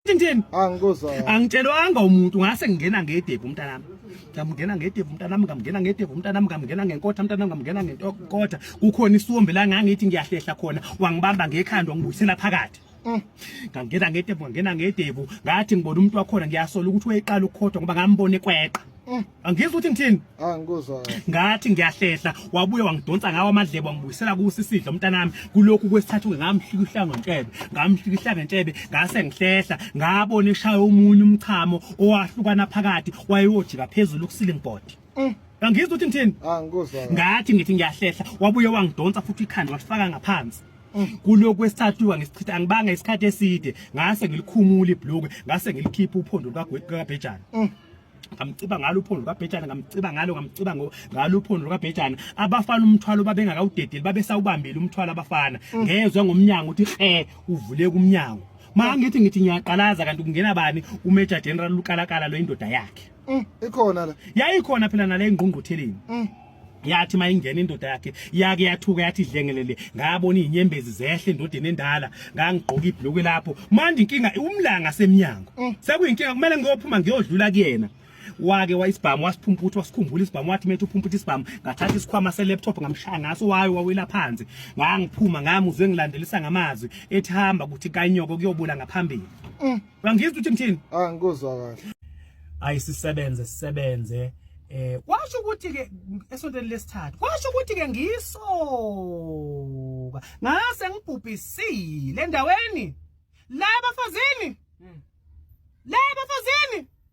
Tintini. Angikuzwa. Angitshelwanga umuntu ngase ngingena ngedevu umntanami. Ngamngena ngedevu umntanami, ngamngena ngedevu umntanami, ngamngena ngenkotha umntanami, ngamngena ngenkotha. Kukhona isombe la ngangithi ngiyahlehla khona, wangibamba ngekhanda wangibuyisela phakathi. Mm. Ngangena ngedevu, ngangena ngedevu, ngathi ngibona umuntu wakhona ngiyasola ukuthi wayeqala ukukhoda ngoba ngambona ekweqa. Mm. Angizwa ukuthi ngithini? Ah ngikuzwa. Ngathi ngiyahlehla wabuye wangidonsa ngawo amadlebe wangibuyisela kusi sidlo mntanami kulokhu kwesithathu ngamhlikihla ngontshebe ngamhlikihla ngentshebe ngase ngihlehla ngabona eshaya umunye umchamo owahlukana phakathi wayewojika phezulu kusiling board. Mm. Angizwa ukuthi ngithini? Ah ngikuzwa. Ngathi ngithi ngiyahlehla wabuye wangidonsa futhi ikhanda wasifaka ngaphansi. kulokhu kwesithathu angisichitha angibanga isikhathi eside ngase ngilikhumula ibhlukwe ngase ngilikhipha uphondo lukagwethu kabhejana mm. ngamciba ngalo uphondo lukabhejana ngamciba ngalo ngamciba ngalo uphondo lukabhejana abafana umthwalo babengakawudedeli babesawubambile umthwalo abafana mm. ngezwe ngomnyango uthi khe uvule kumnyango mangithi ngithi ngiyaqalaza kanti kungena bani uMajor General Lukalakala lo indoda yakhe mm, ikhona la yayikhona phela nale ngqungqutheleni mm. yathi mayingena indoda yakhe yake yathuka yathi idlengelele ngabona izinyembezi zehle endodeni endala ngangigqoka ibhlukwe lapho manje inkinga umlanga semnyango mm. sekuyinkinga kumele ngiyophuma ngiyodlula kuyena wake wayisibhamu wasiphumputha wasikhumbula isibhamu wathi methu uphumputha isibhamu ngathatha isikhwama se laptop ngamshaya ngaso wayo wawela phansi ngangiphuma ngamuzwe ngilandelisa ngamazwi ethi hamba ukuthi kanyoko kuyobula ngaphambili mm. Ngangizwa uthi ngithini? Ah ngikuzwa kahle. Ayi sisebenze sisebenze eh kwasho ukuthi ke esontweni lesithathu kwasho ukuthi ke ngisoka ngase ngibhubhisile endaweni la bafazini hmm. la bafazini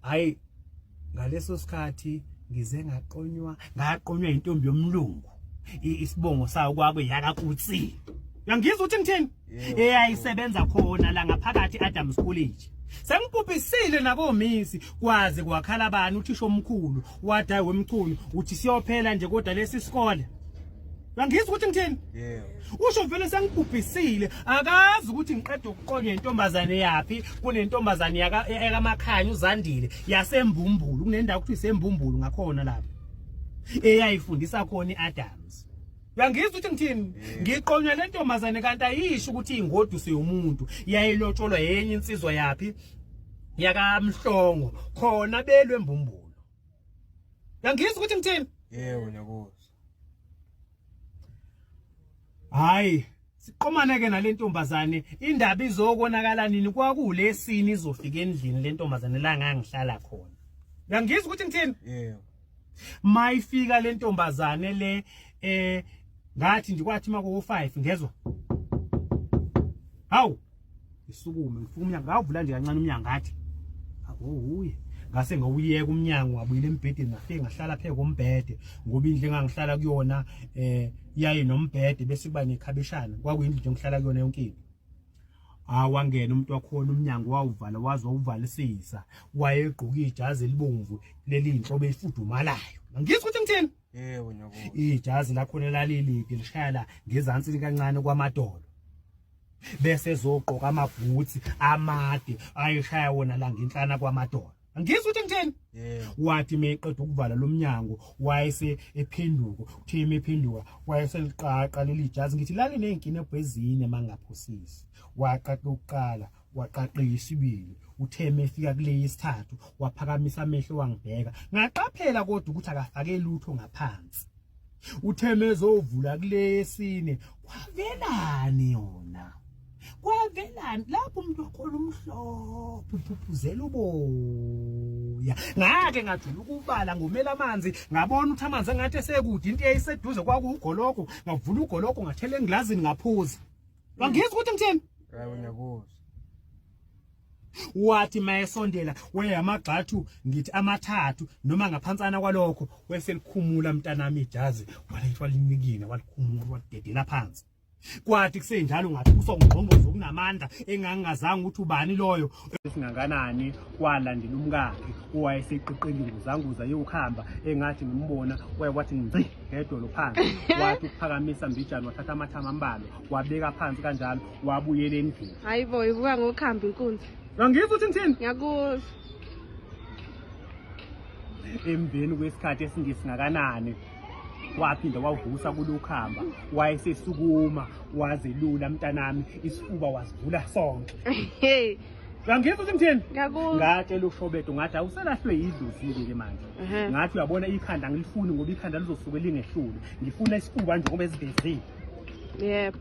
hayi ngaleso sikhathi ngize ngaqonywa ngaqonywa intombi yomlungu isibongo sawo kwakwe yakakutsi uyangizwa ukuthi ngithini eyayisebenza khona la ngaphakathi Adams College sengibhubhisile nakomisi kwaze kwakhala bani uthisha omkhulu wadayi wemchunu uthi siyophela nje kodwa lesi sikole Ngangizwa ukuthi ngithini? Yebo. Usho vele sengibhubhisile, akazi ukuthi ngiqeda ukuqonya intombazane yapi, kunentombazane yaka yakaMakhanya uZandile yaseMbumbulu, kunendawo ukuthi iseMbumbulu ngakhona lapha. Eyayifundisa khona iAdams. Uyangizwa ukuthi ngithini? Ngiqonywa le ntombazane kanti ayisho ukuthi ingoduso yomuntu. Yayilotsholwa yenye insizwa yapi? Yakamhlongo khona belwe Mbumbulu. Uyangizwa ukuthi ngithini? Yebo nyakuzo. hayi siqomane ke nalentombazane indaba izokonakala nini kwakulesini izofika endlini lentombazane la ngangihlala khona ngangizwa ukuthi ngithini yebo mayifika lentombazane le eh ngathi ndikwathi mako 5 ngezwa hawu ngisukume ngifuna umnyango ngavula nje kancane umnyango ngathi akuwuye ngase ngawuyeka umnyango wabuyile embhedeni ngafike ngahlala phe kombhede ngoba indlu engangihlala kuyona eh yaye nombhede bese kuba nekhabishana kwakuyindlu nje ngihlala kuyona yonke into awangena umuntu wakhona umnyango wawuvala waze wawuvalisisa wayegqoka ijazi elibomvu leli inhlobo efudumalayo ngizwe ukuthi ngithini Yebo nyoko. Ijazi lakho nelaliliphi lishaya la ngezansi kancane kwamadolo. Bese ezogqoka amabhutsi amade ayishaya wona la ngenhlana kwamadolo. Ngizwe ukuthi ngithini? Wathi meqeda ukuvala lomnyango wayese ephenduko. Uthe imephenduka wayese liqaqa leli jazi ngithi lali nezinkinebhu ezine mangaphosisi. Waqaqa ukuqala waqaqeka isibili uthe mefika kule yesithathu waphakamisa amehlo wangibheka ngaqaphela kodwa ukuthi akafake lutho ngaphansi uthe mezovula kule yesine kwavelani yona kwavelani lapho umuntu wakhona umhlophe uphuphuzela uboya ngake ngajula ukubala ngomela amanzi ngabona ukuthi amanzi engathi esekude into eyayiseduze kwakuwugologo ngavula ugologo ngathela engilazini ngaphuza Wangizwa ukuthi ngithini? Hayi ngiyakuzwa. Wathi mayesondela we amagxathu ngithi amathathu noma ngaphansana kwalokho weselikhumula mntanami ijazi walethu walinikina walikhumula walidedela phansi. Kwathi kusenjalo ngathi usongqongqozo kunamandla engangingazange ukuthi ubani loyo esinganganani kwalandela umkakhe owayeseqeqeli nguzanguza yokuhamba engathi ngimbona waye wathi ngci ngedolo phansi wathi ukuphakamisa mbijana wathatha amathama ambalwa wabeka phansi kanjalo wabuyela endlini hayi bo ivuka ngokuhamba inkunzi angizwa uthi ngithini ngiyakuzwa emveni kwesikhathi esingesingakanani waphinda wavusa kulukhamba wayesesukuma wazelula mntanami isifuba wasivula sonke Uyangizwa ukuthi ngithini? Ngiyakuzwa. Ngatshela uShobedo ngathi awuselahlwe yidluzile ke manje. Mhm. Ngathi uyabona ikhanda ngilifuni ngoba ikhanda lizosuke lingehlule. Ngifuna isifuba nje ngoba esivezile. Yebo.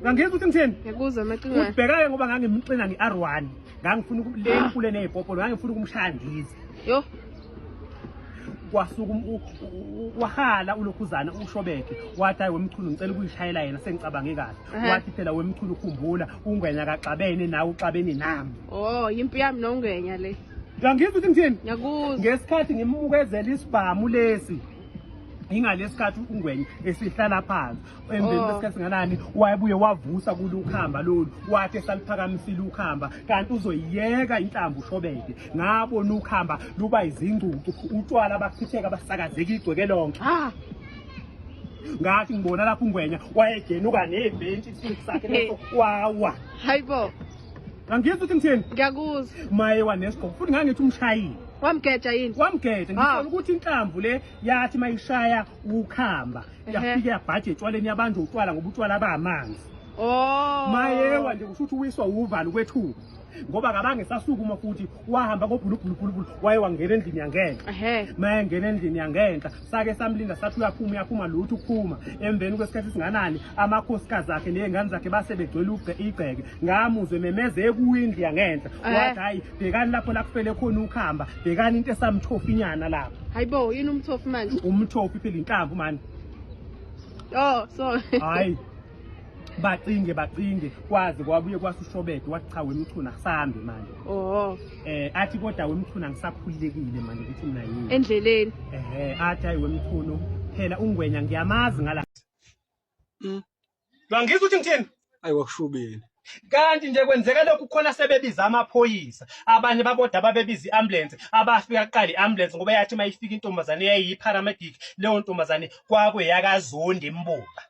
Uyangizwa ukuthi ngithini? Ngiyakuzwa amacingwane. Ubhekake ngoba ngangimxina nge-R1. Ngangifuna uku- le mfule nezipopolo ngangifuna ukumshaya ndize. Yo. kwasuka um, wahala ulokhuzana ushobeke wathi hayi wemchunu ngicela ukuyishayela yena sengicabange kahle wathi phela wemchunu ukhumbula ungwenya kaxabene nawe uxabene nami oh yimpi yami nongwenya le ngangizwa ukuthi ngithini ngiyakuzwa ngesikhathi ngimukezela isibhamu lesi ingalesikhathi ungwenye esihlala phansi emveni oh. kwesikhathi singanani wayebuye wavusa kule ukhamba lolu wathi esaliphakamisile ukhamba kanti uzoyiyeka inhlambu ushobeke ngabona ukhamba luba izingcucu utshwala bakuthitheka basakazeka igcweke lonke ah! ngathi ngibona lapho ungwenya wayegenuka nebhentshi isithunzi sakhe leso wawa hayibo Angizwa ukuthi ngithini? Ngiyakuzwa. Maye wanesigqoko futhi ngangithi umshayile. Wamgeja yini? Wamgeja ngifuna ah. ukuthi inhlamvu le yathi mayishaya ukhamba yafike yabhaje etshwaleni yabantu utshwala ngoba utshwala bamanzi. Oh. Mayewa nje kusho ukuthi uwiswa uvalo kwethuka ngoba kabange sasukuma futhi wahamba ngobhulubhulubhulubhulu waye wangena endlini yangenhla mayengena endlini yangenhla sake samlinda sathi uyaphuma uyaphuma lutho ukuphuma emveni kwesikhathi esinganani amakhosikazi akhe ney'ngane zakhe base begcwele igceke ngamuzwe memeze ekuyindlu yangenhla wathi hhayi bhekani lapho lakufele khona ukuhamba bhekani into esamthofi inyana lapho hayi bo yini umthofi manje umthofi phela inhlamvu mani oh sorry hayi bacinge bacinge kwaze kwabuye kwase ushobede wathi cha wemchuna kusambe manje oh eh athi kodwa wemchuna ngisakhululekile manje ukuthi mina yini endleleni ehe athi ayi wemchunu phela ungwenya ngiyamazi ngala mm. Bangizwa ukuthi ngithini ayi wakushubeni kanti nje kwenzeka lokhu khona sebebiza amaphoyisa abanye baboda ababebiza i-ambulance abafika kuqala i-ambulance ngoba yathi uma ifika intombazane yayiyi-paramedic leyo ntombazane kwakuyakazondi imbuka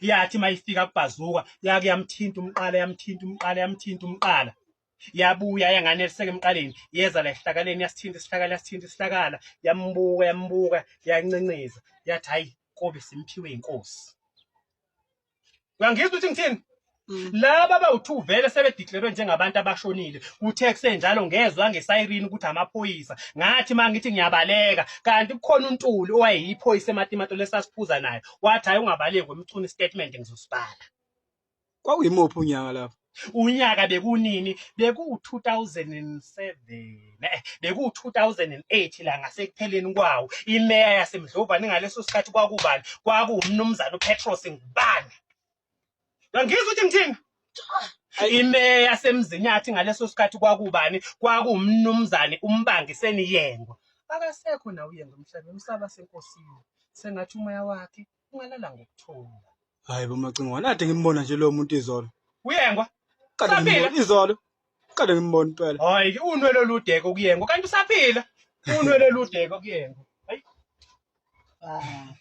yathi mayifika kubhazuka yake yamthinta umqala yamthinta umqala yamthinta umqala yabuya yanganeliseka emqaleni yeza la esihlakaleni yasithinta isihlakala yasithinta isihlakala yambuka yambuka yancenceza yathi hayi kobe simphiwe inkosi uyangizwa ukuthi ngithini Mm. laba abawu-2 vele sebedeclarwe njengabantu abashonile kuthe kusenjalo ngezwa ngesayirini ukuthi amaphoyisa ngathi ma ngithi ngiyabaleka kanti kukhona untuli owayeyiphoyisa ematimato lesasiphuza naye wathi hhayi ungabaleki wemchuna istatement ngizosibala kwakuyimuphi unyaka lapho unyaka bekunini beku-2007 eh, beku-2008 la ngasekupheleni kwawo imeya yasemdlovane ngaleso sikhathi kwakubani kwakuwumnumzane upetros ngubane Ngangizwa ukuthi ngithini? Imeya yasemzinyathi ngaleso sikhathi kwakubani? Kwakumnumzane umbangi seniyengwa. Akasekho nawe uyengwa emhlabeni usaba senkosini. Sengathi umoya wakhe ungalala ngokuthula. Hayi bo Macingwane, ade ngimbona nje lo muntu izolo. Uyengwa? Qale ngimbona izolo. Qale ngimbona impela. Hayi, unwele oludeke kuyengwa kanti usaphila. Unwele oludeke kuyengwa. Hayi. Ah.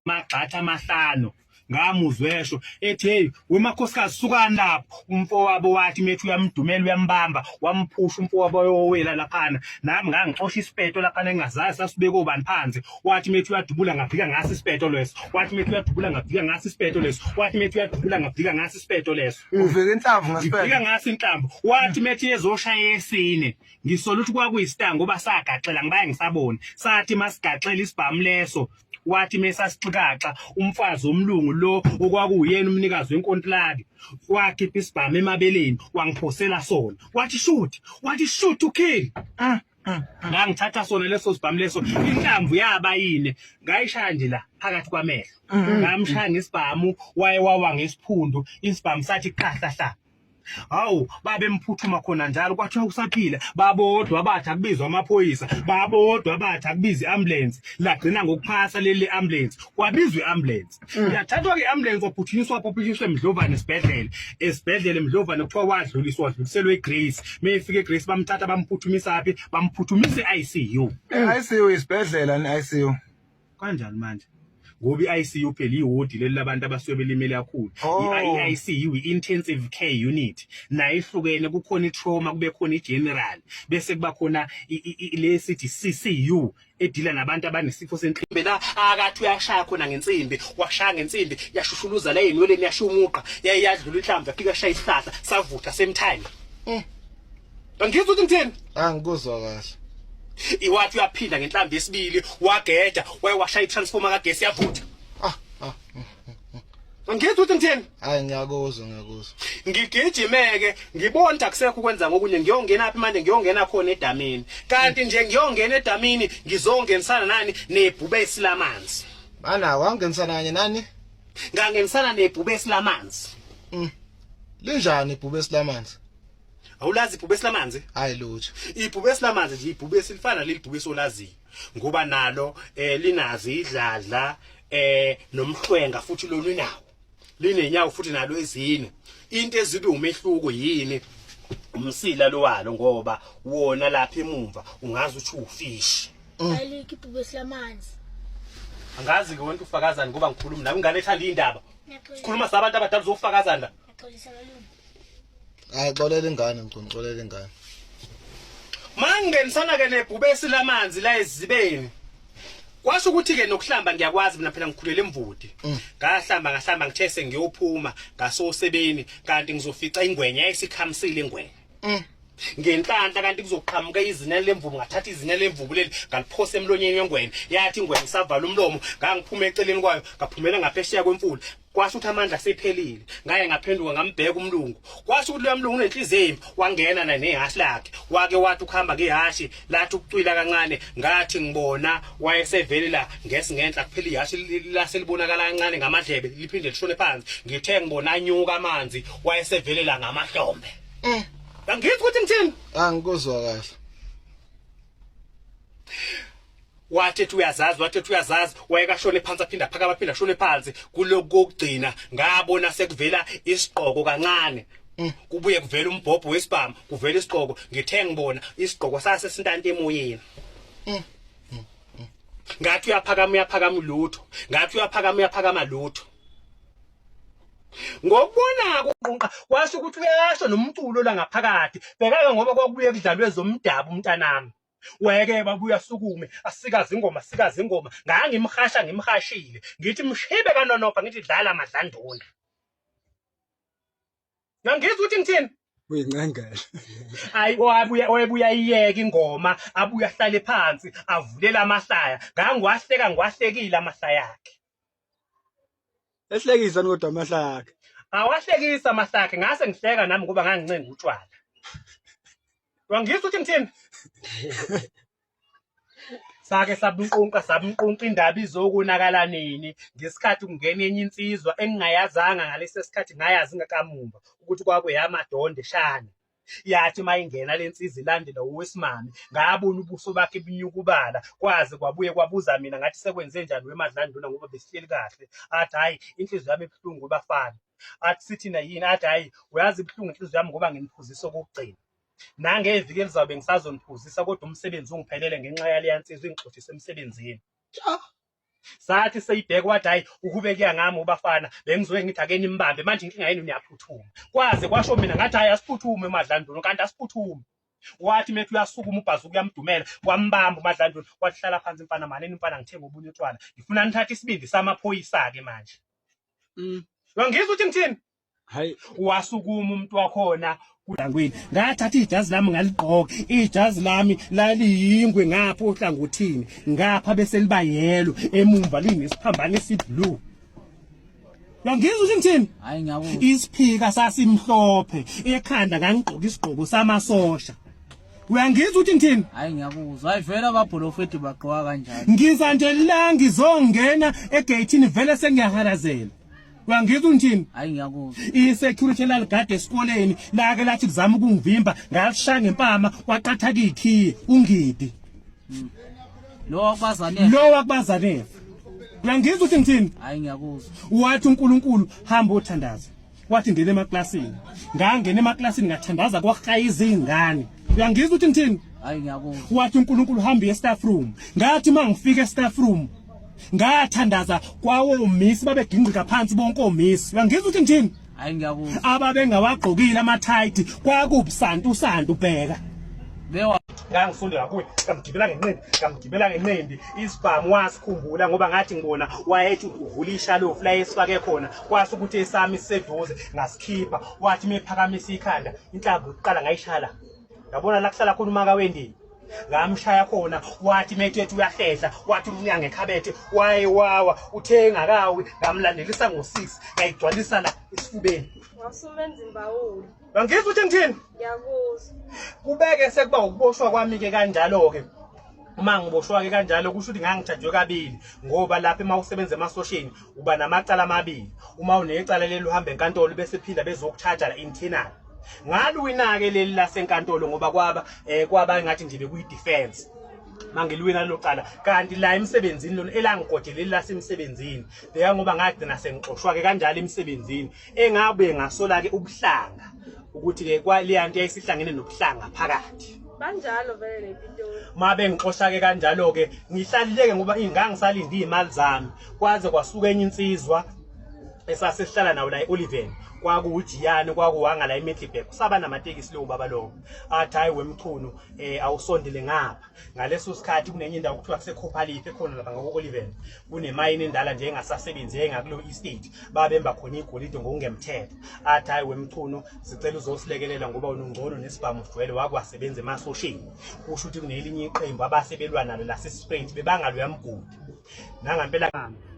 magxatha amahlanu ngamuzwa esho ethi hey wemakhosikazi sukani lapho umfowabo wathi methi uyamdumela uyambamba wamphusha umfowabo yowela laphana nami ngangixosha isipeto laphana engazazi sasibeke obani phansi wathi methi uyadubula ngafika ngasi isipeto leso wathi methi uyadubula ngafika ngasi isipeto leso wathi methi uyadubula ngafika ngasi isipeto leso uvike inhlamvu ngasipeto ngifika ngasi inhlamvu wathi methi ezoshaya yesine ngisola ukuthi kwakuyistango basagaxela ngibaye ngisaboni sathi masigaxela isibhamu leso wathi mesasixikaxa umfazi omlungu lo okwakuwuyena umnikazi wenkontilaki wakhipha isibhamu emabeleni wangiphosela sona wathi shoot wathi shoot to kill ah, ah, ah. ngangithatha sona leso sibhamu leso inhlamvu yaba yini ngayishaya nje la phakathi kwamehlo mm. ngamshaya ngesibhamu waye wawa ngesiphundu isibhamu sathi qahlahla hawu babemphuthuma khona njalo kwathiwa usaphila babodwa abathi akubizwa amaphoyisa babodwa abathi akubiza i-ambulensi lagcina ngokuphasa leli ambulensi kwabizwa i-ambulensi mm. yathathwa ke i-ambulensi waphuthunyiswa waphuthunyiswa emdlovane esibhedlela esibhedlela emdlovane kuthiwa wadluliswa wadluliselwa egrace uma efika egrace bamthatha bamphuthumisaphi bamphuthumisa i-icu i-icu isibhedlela ni-icu Kanjani manje? ngoba i-ICU phela iwodi leli labantu abasuke belimele kakhulu oh. i-ICU i-intensive care unit nayo ihlukene kukhona i-trauma kube khona i-general bese kuba khona le sithi CCU edila nabantu abanesifo senhliziyo bela akathi uyashaya khona ngensimbi washaya ngensimbi yashushuluza la enweleni yashiya umuqa yayadlula inhlamvu yafika shaya isihlahla savutha same time eh Angizwa ukuthi ngithini? Angikuzwa kahle. Iwathi uyaphinda ngenhlambi yesibili wageja wayewasha itransformer kagesi yavutha. Ah, ah. Angizwa ukuthi ngithini? Hayi ngiyakuzwa ngiyakuzwa. Ngigijimeke ngibona akusekho ukwenza ngokunye ngiyongena aphi manje ngiyongena khona edamini. Kanti nje ngiyongena edamini ngizongenisana nani nebhube isilamanzi. Bana wangenisana kanye nani? Ngangenisana nebhube isilamanzi. Mm. Linjani ibhube esilamanzi? awulazi ibhube silamanzi hayi lutho ibhube silamanzi nje ibhube silifana leli bhube solaziyo ngoba nalo eh linazi idladla eh nomhlwenga futhi lolu nawo linenyawo futhi nalo ezine into ezibe umehluko yini umsila lo walo ngoba wona lapha emumva ungazi uthi ufish mm. ayiliki ibhube silamanzi angazi ke wonke ufakazani ngoba ngikhuluma nawe ingane ethanda indaba sikhuluma sabantu abadala uzofakazana Xolisa malume. Hayi xolela ingane mgcini xolela ingane. Mangingenisana ke nebhubesi lamanzi la ezibeni. Kwasho ukuthi ke nokuhlamba ngiyakwazi mina phela ngikhulele emvudi. Mm. Ngahlamba ngahlamba ngithe sengiyophuma ngasosebeni kanti ngizofica ingwenya esikhamisile ingwenya. Mm. ngenhlanhla kanti kuzoqhamuka izinene lemvubu ngathatha izinene lemvubu leli ngaliphose emlonyeni wengwenya yathi ingwenya isavala umlomo ngangiphuma eceleni kwayo ngaphumela ngaphesheya kwemfula kwasho ukuthi amandla sephelile ngaye ngaphenduka ngambheka umlungu kwasho ukuthi loya mlungu unenhliziyo embi wangena naye nehhashi lakhe wake wathi ukuhamba ngehhashi lathi ukucwila kancane ngathi ngibona wayesevele la ngesi ngenhla kuphela ihhashi lase libonakala kancane ngamadlebe liphinde lishone phansi ngithe ngibona anyuka amanzi wayesevele la ngamahlombe eh angithi ukuthi ngithini angikuzwa kahle wathi ethi uyazazi wathi ethi uyazazi wayekashone phansi aphinda phakama aphinda shone phansi kulokhu kokugcina ngabona sekuvela isiqoko kancane mm. kubuye kuvela umbhobho wesibhamu kuvela isiqoko ngithe ngibona isiqoko sase sintanta emoyeni mm. mm. ngathi uyaphakama uyaphakama lutho ngathi uyaphakama uyaphakama lutho ngokubona kuqunqa kwasho ukuthi uyasho nomculo la ngaphakathi bhekaka ngoba kwakubuye kudlalwe zomdabu umntanami weke babuya sukume asikaze ingoma asikaze ingoma ngangimhasha ngimhashile ngithi mshibe kanonopha ngithi dlala madlanduna ngangizwa ukuthi ngithini uyincangela hayi oyabuya oyabuya iyeke ingoma abuya ahlale phansi avulela amahlaya ngangiwahleka ngiwahlekile amahlaya akhe ehlekisa kodwa amahlaya akhe awahlekisa amahlaya akhe ngase ngihleka nami ngoba ngangincenga utshwala wangizwa ukuthi ngithini sake sabunqunqa sabunqunqa indaba izokonakala nini ngesikhathi kungena enye insizwa engingayazanga ngalesi sikhathi ngayazi ngakamumva ukuthi kwakuyamadondo eshana yathi uma ingena le nsizi ilandela owesimame ngabona ubuso bakhe bunyukubala kwaze kwabuye kwabuza mina ngathi sekwenze njani wemadlanduna ngoba besihleli kahle athi hhayi inhliziyo yami ebuhlungu kubafana athi sithina yini athi hhayi uyazi ibuhlungu inhliziyo yami ngoba nginiphuzisa okokugcina nangeviki elizawube ngisazoniphuzisa kodwa umsebenzi ungiphelele ngenxa yaleya nsizwa ingixoshise emsebenzini sathi seyibheka wathi hayi uhubekeka ngami ubafana bengizoye ngithi ake nimbambe manje inkinga yenu niyaphuthuma kwaze kwasho mina ngathi hayi asiphuthume umadlanduna kanti asiphuthume wathi methi uyasukuma ubhazuka uyamdumela wambamba umadlanduna wathi hlala phansi mfana malini mfana ngithenga obunye utshwala ngifuna nithathe isibindi samaphoyisa-ke manje mm. ngizwa ukuthi ngithini hayi wasukuma umuntu wakhona kulangwini ngathatha ijazi lami ngaligqoka ijazi lami laliyingwe ngapha ohlangothini ngapha bese liba yelo emumva linesiphambane esiblue Yangizwa ukuthi ngithini? Hayi ngiyabona. Isiphika sasimhlophe, ekhanda ngangigqoka isigqoko samasosha. Uyangizwa ukuthi ngithini? Hayi ngiyakuzwa. Hayi vele ababholofethi bagqoka kanjani? Ngiza nje la ngizongena egate ni vele sengiyahalazela. wangizwa ngithini hayi ngiyakuzwa i-security laligade esikoleni lake lathi kuzama ukungivimba ngalishaya ngempama kwaqatha kikhiye ungidi hmm. lo wakubazanele lo wakubazanele uyangizwa ukuthi ngithini hayi ngiyakuzwa wathi uNkulunkulu hamba othandaza wathi ngene emaklasini ngangena emaklasini ngathandaza kwahaya izingane uyangizwa ukuthi ngithini hayi ngiyakuzwa wathi uNkulunkulu hamba e-staff room ngathi mangifika e-staff room ngathandaza kwawomisi babegingqika phansi bonke omisi uyangizwa ukuthi ngithini hayi ngiyakuzwa ababengawagqokile amathayithi kwakubusanti usanti ubheka bewa ngangifunda ngakuye ngamgibela ngenqindi ngamgibela ngenqindi isibhamu wasikhumbula ngoba ngathi ngibona wayethi uvula ishalofu la esifake khona kwase ukuthi esami siseduze ngasikhipha wathi mephakamisa ikhanda inhlamvu yokuqala ngayishala yabona la kuhlala khona umaka wendini ngamshaya khona wathi metethi uyahlehla wathi umnyango ekhabethe wayewawa uthe engakawi ngamlandelisa ngo-six ngayigcwalisa la esifubeni wasumenza imbawula angizwa ukuthi ngithini ngiyakuzwa kubeke sekuba ukuboshwa kwami-ke kanjalo-ke uma ngiboshwa-ke kanjalo kusho ukuthi ngangijajwe kabili ngoba lapho uma usebenza emasosheni uba namacala amabili uma unecala leli uhamba enkantolo bese phinda bezokuthaja la internal ngalwinake leli lasenkantolo ngoba kwaba eh, kwaba ngathi nje bekuyi defense mangilwina lelo cala kanti la emsebenzini lona elangigodeleli lasemsebenzini beka ngoba ngagcina sengixoshwa-ke kanjalo emsebenzini engabe ngasola-ke ubuhlanga ukuthi-ke kwaleya nto yayisihlangene nobuhlanga phakathi banjalo vele le pitoli ma bengixosha-ke kanjalo-ke ngihlalileke ngoba ingangisalinde iy'mali zami kwaze kwasuka enye insizwa esasihlala nawo la e-oliven kwakuwujiyane kwakuwanga la e-middleburg kusaba namatekisi leyo baba lowo athi hhayi wemchunu um eh, awusondele ngapha ngaleso sikhathi kunenye indawo kuthiwa kusekhophaliphi ekhona lapha ngako-oliven kunemayini endala nje engasasebenzi engakuleyo estate babemba khona igolide ngokungemthetho athi hhayi wemchunu sicela uzosilekelela ngoba unungcono nesibhamu sijwele wakwasebenza emasosheni kusho ukuthi kunelinye iqembu abasebelwa nalo lasesisprint bebangaloyamgodi nangampela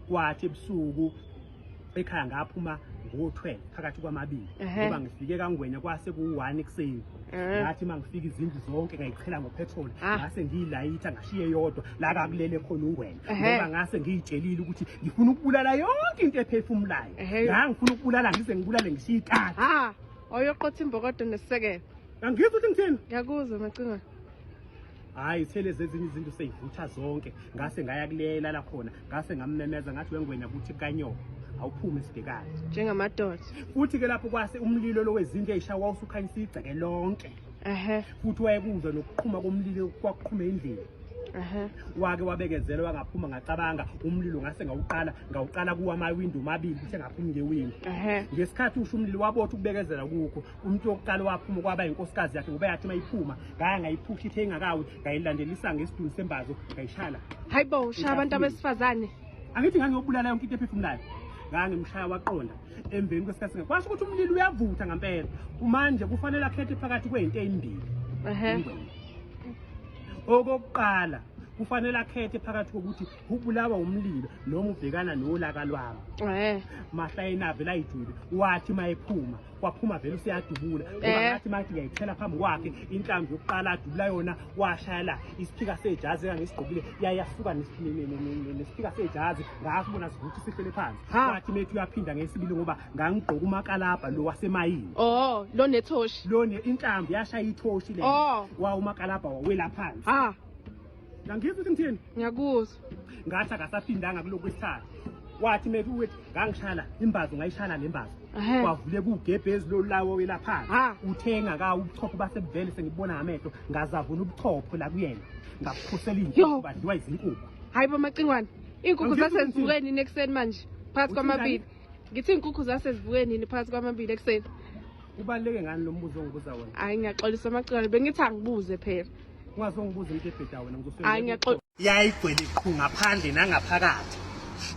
kwathi ebusuku ekhaya ngaphuma ngo-12 phakathi kwamabili ngoba ngifike kangwenya kwase ku-one ekuseni ngathi uma ngifika izindlu zonke ngayiqhela ngopetrol ah. ngase ngiyilayitha ngashiye yodwa la kakulele khona ungwenya ngoba ngase ngiyitshelile ukuthi ngifuna ukubulala yonke into ephefumulayo la ngifuna ukubulala ngize ngibulale ngishiye ikati ah, oyoqotha imbokodo nesisekelo angizwa ukuthi ngithini ngiyakuzwa macingwane hayi sele zezinye izinto seyivutha zonke ngase ngaya kuleyela la khona ngase ngammemeza ngathi wengwenya kuthi kanyoka awuphume esibhekane njengamadoda futhi ke lapho kwase umlilo lowezindlu eyishawa usukhanyisa igceke lonke ehe futhi wayekuzwa nokuqhuma komlilo kwaqhuma endlini ehe wake wabekezela wangaphuma ngacabanga umlilo ngase ngawuqala ngawuqala kuwa amawindi omabili uthe ngaphuma ngewindi ehe ngesikhathi usho umlilo wabotha ukubekezela kukho umuntu wokuqala owaphuma kwaba yinkosikazi yakhe ngoba yathi uma iphuma ngaya ngayiphusha ithe ingakawi ngayilandelisa ngesidunu sembazo ngayishaya la hayi bo ushaya abantu abesifazane angithi ngangiyobulala yonke into ephefumulayo ngangimshaya waqonda emveni kwesikhathi singa kwasho ukuthi umlilo uyavutha ngampela kumanje kufanele akhethe phakathi kweyinto eyimbili okokuqala kufanele akhethe phakathi kokuthi ubulawa umlilo noma ubhekana nolaka lwami eh mahla enabe la ijule wathi mayephuma kwaphuma vele useyadubula ngoba eh. ngathi mathi ngiyayithela phambi kwakhe inhlambi yokuqala adubula yona washaya la isiphika sejazi engangisigqokile yayasuka nesiphika sejazi ngakubona sivuthi sihlele phansi wathi methi uyaphinda ngesibili ngoba ngangigqoka umakalabha lo wasemayini oh lo nethoshi lo inhlambi yashaya ithoshi le oh. wa umakalabha wawela phansi ah Ngangizwa ukuthi ngithini? Ngiyakuzwa. Ngathi akasafindanga kulokhu isikhathi. Wathi methi ukuthi ngangishayela imbazo ngayishayela nembazo. Kwavule kugebhezi lo lawo welapha. Uthenga ka ubuchopho basebuvele sengibona ngamehlo ngazavuna ubuchopho la kuyena. Ngaphusela inkukhu badliwa izinkukhu. Hayi bamacingwane. Inkukhu zasezivuke nini ekuseni manje? Phakathi kwamabili. Ngithi inkukhu zasezivuke nini phakathi kwamabili ekuseni? Ubaluleke ngani lo mbuzo ongibuza wona? Hayi ngiyaxolisa amacingwane bengithi angibuze phela. ungazongibuza into ebheda wena ngizosebenzisa yayigcwele qhu ngaphandle nangaphakathi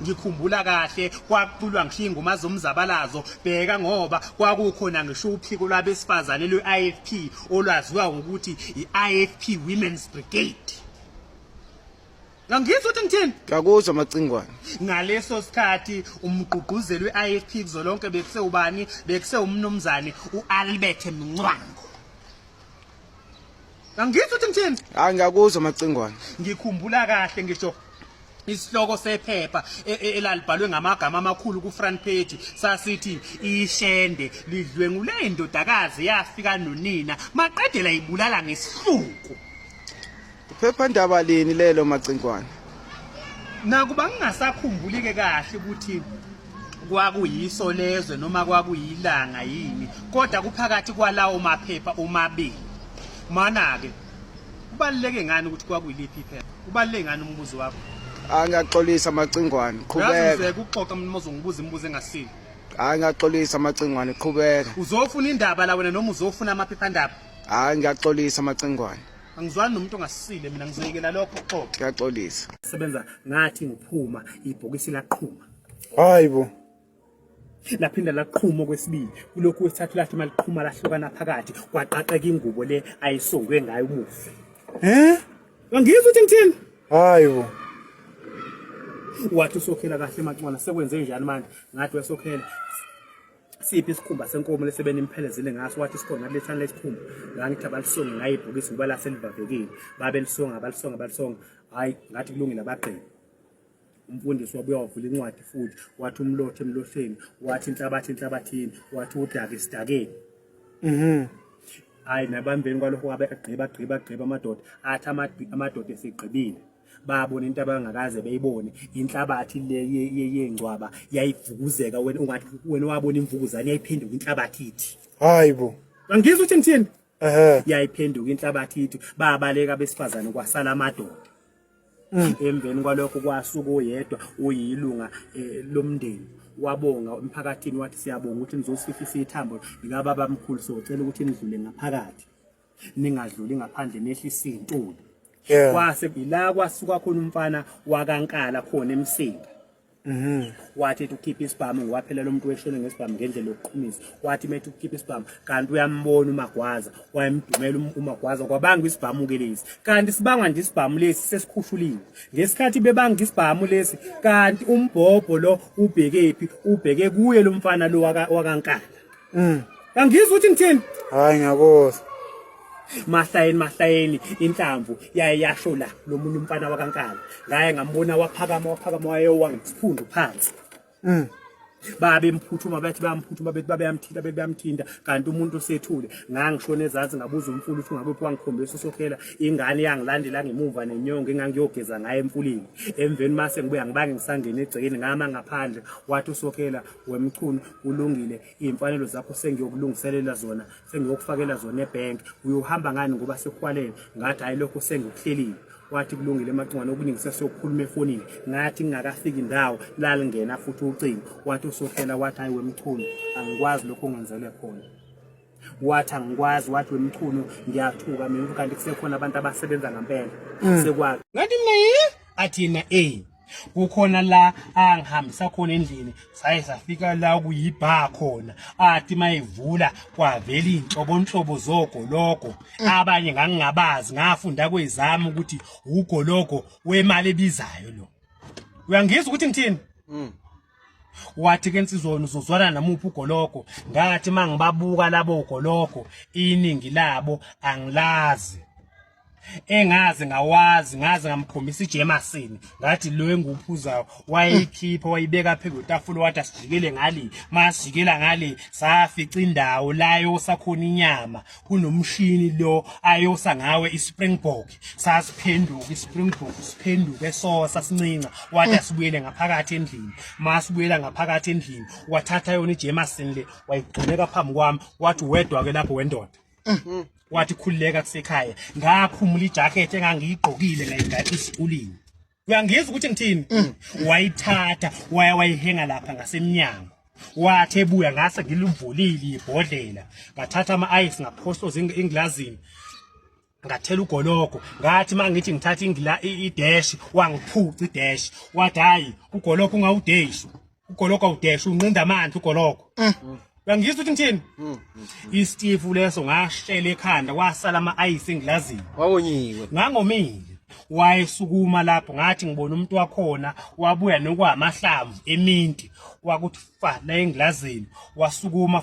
ngikhumbula kahle kwakuculwa ngishiya ingoma zomzabalazo bheka ngoba kwakukhona ngisho uphiko lwabesifazane lwe-ifp olwaziwa ngokuthi i-ifp women's brigade ngangizwa ukuthi ngithini ngakuzwa amacingwane ngaleso sikhathi umgqugquzeli we-ifp kuzolonke bekuse ubani bekuse umnumzane u-albert mncwango Angizwa ukuthi ngithini? Hayi ngiyakuzwa macingwane. Ngikhumbula kahle ngisho isihloko sephepha e, e, elalibhalwe ngamagama amakhulu ku-front page sasithi ishende lidlwengule indodakazi yafika nonina maqedela ibulala ngesihluku Iphephandaba lini lelo Macinkwane? Nakuba ngingasakhumbuli ke kahle ukuthi kwakuyiso lezwe noma kwakuyilanga yini kodwa kuphakathi kwalawo maphepha omabili mana ke kubaluleke ngani ukuthi kwakuyiliphi iphepha kubaluleke ngani umbuzo wakho angiyaxolisa amacingwane qhubeka kuxoxa mina mozongibuza imibuzo engasile hayi ngiyaxolisa amacingwane qhubeka uzofuna indaba la wena noma uzofuna amaphephandaba hayi ngiyaxolisa amacingwane angizwani nomuntu ongasile mina ngizekela lokho xoxa kuyaxolisa sebenza ngathi ngiphuma ibhokisi laqhuma hayibo laphinda laqhuma okwesibili kulokhu wesithathu lathi maliqhuma lahlukana phakathi kwaqaqeka ingubo le ayisongwe ngayo umufi eh angizwa ukuthi ngithini hayibo wathi usokhela kahle macwana sekwenze njani manje ngathi wesokhela siphi isikhumba senkomo lesebeni imphelezile ngaso wathi isikhona lethana lesikhumba ngangithi abalisonge ngayibhokisi ngoba lase livavekile babelisonga balisonga balisonga hhayi ngathi kulungile abagqibi umfundisi wabuya wavula incwadi futhi wathi umlothe emlotheni wathi inhlabathi enhlabathini wathi udake esidakeni mhm hayi nabambeni kwalokho wabe agqiba agqiba agqiba amadoda athi amadoda esigqibile babona into abangakaze beyibone inhlabathi le yengcwaba yayivukuzeka wena ungathi wena wabona imvukuzane yayiphenduka inhlabathi ithi hayibo angizwa ukuthi ngithini ehe yayiphenduka inhlabathi ithi babaleka besifazane kwasala amadoda mm. emveni kwalokho kwasuka oyedwa uyilunga eh, lomndeni wabonga emphakathini wathi siyabonga ukuthi nizosifisa ithambo likababa mkhulu socela ukuthi nidlule ngaphakathi ningadluli ngaphandle nehlisa iy'ntuli Yeah. kwase ila kwasuka khona umfana wakankala khona emsinga Mhm. wathi ethi ukhipha isibhamu ngowaphelela umuntu weshone ngesibhamu ngendlela yokuqhumisa wathi methi ukhipha isibhamu kanti uyambona umagwaza wayemdumela um- umagwaza kwabanga isibhamu ke lesi kanti sibangwa nje isibhamu lesi sesikhushuliwe ngesikhathi bebanga isibhamu lesi kanti umbhobho lo ubhekephi ubheke kuye lo mfana lo waka- wakankala Mm. Angizwa ukuthi ngithini? Hayi ngiyakuzwa. Mahlayeni mahlayeni inhlamvu yaye yasho la lo munye umfana wakankala. Ngaye ngambona waphakama waphakama wayewa ngesiphundu phansi. Mm. babe mphuthuma bathi bayamphuthuma bethi babeyamthinta bethi bayamthinta kanti umuntu osethule ngangishona ezansi ngabuza umfula ukuthi ngabe wangikhombisa usokhela ingane yangilandela ngemuva nenyongo engangiyogeza ngayo emfuleni emveni mase ngibuya ngibange ngisangena egcekeni ngama ngaphandle wathi usokhela wemchunu kulungile iy'mfanelo zakho sengiyokulungiselela zona sengiyokufakela zona ebhenki uyohamba ngani ngoba sekuhwalele ngathi hhayi lokho sengikuhlelile wathi kulungile emacingwane okuningi sesiyokhuluma efonini ngathi ngingakafiki indawo lalingena futhi ucingo wathi usohlela wathi hhayi wemchunu angikwazi lokho ungenzele khona wathi angikwazi wathi wemchunu ngiyathuka mina kanti kusekhona abantu abasebenza ngampela mm. sekwazi ngathi mina athina eyi kukhona la angihambisa khona endlini saye safika la kuyibha khona athi mayivula kwavela inhlobonhlobo zogologo abanye ngangingabazi ngafunda kwezami ukuthi ugologo wemali ebizayo lo uyangizwa ukuthi ngithini mm. wathi ke nsizona uzozwana namuphi ugologo ngathi mangibabuka labo ugologo iningi labo angilazi engazi ngawazi ngazi ngamkhombisa ijemasini ngathi lo enguphuzayo wayikhipha wayibeka phezu kwetafula wathi asijikele ngale masijikela ngale safica indawo layo sakhona inyama kunomshini lo ayosa ngawe ispringbok sasiphenduka ispringbok siphenduke sosa sincinca wathi asibuyele ngaphakathi endlini masibuyela ngaphakathi endlini wathatha yona ijemasini le wayigcineka phambi kwami wathi wedwa ke lapho wendoda Mm. wathi khululeka kusekhaya ngaphumula ijacket engangiyigqokile ngayigada isikulini uyangizwa ukuthi ngithini mm. wayithatha waya wayihenga lapha ngasemnyango wathi ebuya ngase ngilivulile ibhodlela ngathatha ama-ice ngaphohloza engilazini ngathela ugologo ngathi mangithi ngithatha ingila ideshi wangiphuca ideshi wathi hayi ugologo ungawudeshi ugoloka udesha unqinda amanzi ugoloko mm. uyangizwa ukuthi ngithini mm. istifu leso ngashela ekhanda kwasala ama-ayisi engilazini wawonyiwe ngangomile wayesukuma lapho ngathi ngibona umuntu wakhona wabuya nokwamahlamvu eminti wakuthi fa la engilazini wasukuma